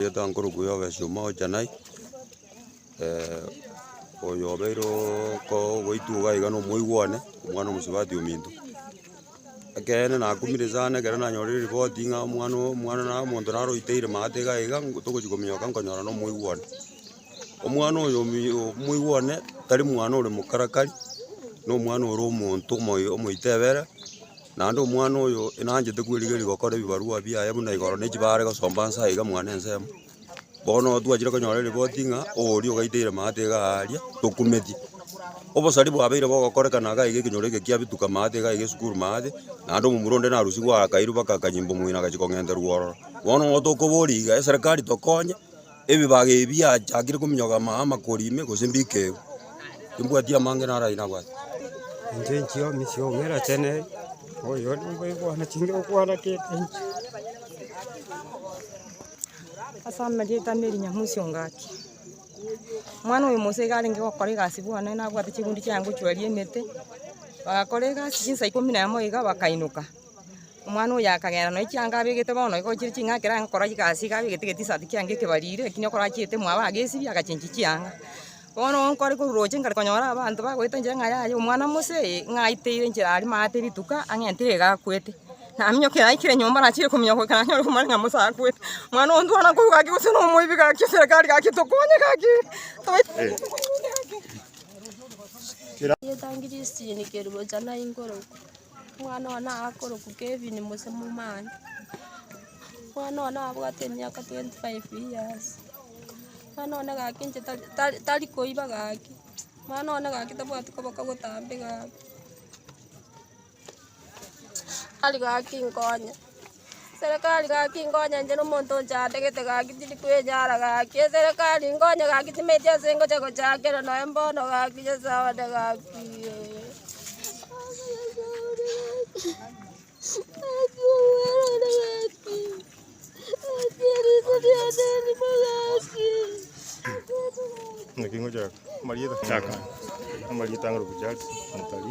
Gete nkorokwo ya obesima ocha naye, oyo obeire okooo goitwa iga iga na omoigwa one, omwana omosubati ominto. Ekeene nakumire sana ekero nanyorire ripoti ng'a omwana oo omwana na omonto naroiteire maate iga iga togochi kominyoka nkonyora na omoigwa one. Omwana oyo omoigwa one tari mwana ore mokarakari, na omwana ore omonto omoyo omoito ebere, naende omwana oyo nanchete kwerigeria gokora ebibarua biaye buna igoro na echibaare are gosomba nse aye iga mwane ensemo. Bono twachire konyora eripoti ng'a oria ogaiteire maate iga aaria, tokumeti. Obosari bwabeire bogokorekana iga iga ekenyoro eke kiabituka maate iga iga esukuru maate, naende omomura onde narusigwe akairwa baka akanyimba omong'ina agachia kong'enterwa ororo. Bono ng'o tokoboria iga eserekari tokonye. Ebibaga ebi biachakire kominyoka ama amakori ime gose mbikegu, timbwati amange naro ayio nabwate. Inche inchio misia omera chene oyo nigo ekwana chinge okwana kete inche. Ase amarieta na erinyamu ase engaki. Omwana oyo mose iga arenge gokora egasi bwane nabwate chigunda chiaye ngochwaria emete, bagakora egasi chinsa ikomi na emo iga bakainoka. Omwana oyo akagenda nonya chianga abegete bono igo chire ching'aki ranga gokora egasi iga abegete egetisati kiange ekebariri ekio nigo korachiete mwabo agesibia agachenchia chianga. Bono nigo nkore korwa roche nkare konyora abanto bagoeta enchera ng'a yaya omwana mose eye ng'a aiteire enchera aria maate rituko ang'entire iga akwete. Naminyoka ere aikire nyomba nachire kominyoka goika nanyora omwana ng'a mose akwete. Omwana ogo ntwana korwa gaki gose nomoibi gaki serekari gaki tokonye gaki tobaisa. Omwana oye nakorokwa Kevin gose momani. Omwana oye nabwate emiaka twenty five years. Omwana oye gaki inche tari- tari koiba gaki. Omwana oye gaki tabwati koboka gotambe gaki. Tari gaki nkonye. Eserekari gaki nkonyenche nomonto ochategete gaki tindi kwenyara gaki eserekari nkonye gaki timaeti ase ngocha gochakera noe mbono gaki nyasae one gaki Naki ngochaka. Marieta. Chaka. Marieta ngoro kuchaki. Mutari.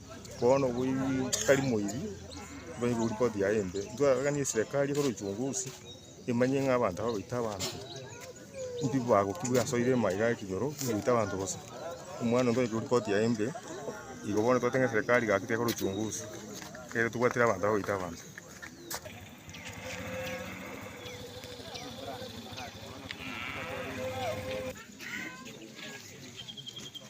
Bono tari moiri mbae ne report yaye embe, ntwaroranie eserekari ekore uchunguzi emanye ng'a abanto aba baita abanto mbi bagokigwa ase oire maiga aa ekenyoro goita abanto bosa. Omwana oyo ntwaikire report yaye embe, igo bono twateba ng'a eserekari gaki tekore uchunguzi ekere tobwatire abanto aba baita abanto.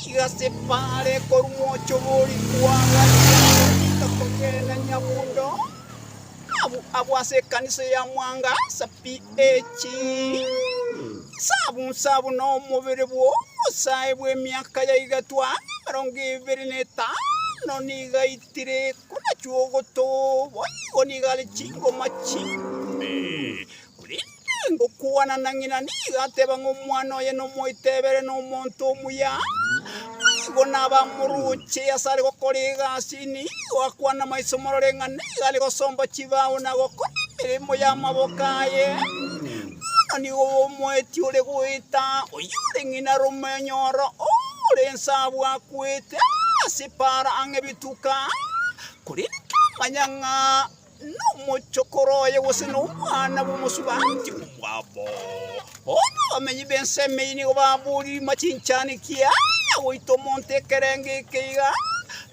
Chigasepara are korwa mwocho bw'orikwa agachia gotiga kogenda Nyabundo, abwo abwo ase ekanisa ya Mwanga sa PH. Sabusa buna omobere bw'obosae bw'emiaka ya igatwa emerongo ebere na etano nigo aitire, korachwo ogotoba, boigo nigo are chingoma chimbe. Korende ngokwana na ng'ina nigo ateba ng'a omwana oye nomoitebere nomonto omuya. Naigo nabamorooche asare gokora egasi, nigo akwane maiso morore ng'a nigo are gosomba chibao na gokora emeremo y'amaboko aye. Bono nigo omoeti ore goeta, oyore ng'ina romonyoro, ore ense abwo akwete ase epaara ang'e bituko aa, korende kamanya ng'a nomochokoro oye gose nomwana bw'omosubaanti omwabo. Bono abamenyi b'ense emeyie nigo baboririma chinchani kia goita omonto ekerengo eke iga,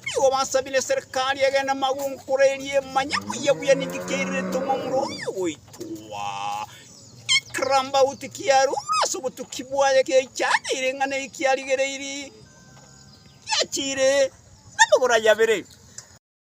nigo basabire eserekari egende amagwenkoro erie manye buya buya ninki kiairerete omomura oye goitwa. Ekirambauti kiarua ase obotuki bwaye kiaichaneire ing'ana eye kiarigereiri, giachire namagoro ayabere.